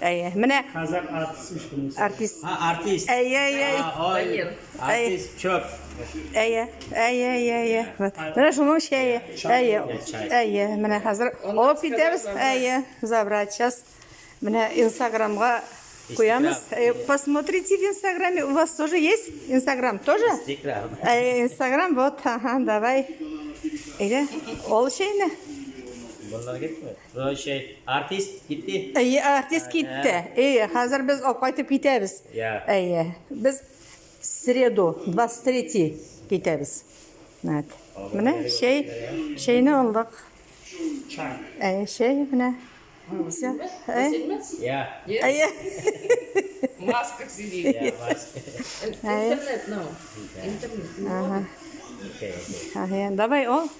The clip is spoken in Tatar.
Әйе, менә Казак артист ич бунысы. артист. А, артист. Әйе, әйе, әйе. А, ой, Ванил. Артист чоп. Әйе, әйе, әйе, әйе. Вот. Менә шуның чәе. Әйе, әйе. Менә хәзер алып китәбез. Әйе, забрать сейчас. Менә инстаграмга куямыз. Әйе, Посмотрите в инстаграме. У вас тоже есть инстаграм? Тоже? Инстаграм. Әйе, инстаграм. Вот, ага, давай. Әйе, ол чәйне. Bunlar gitmiyor. Короче, артист китте. Әйе, артист китте. Әйе, хәзер без алып кайтып китәбез. Yeah. Әйе. Без среду 23 китәбез. Нәт. Менә чәй, чәйне алдык. Әйе, чәй менә. Все. Әйе. Әйе. Маска сидит. Интернет, ну. Интернет. Ага. Давай, о.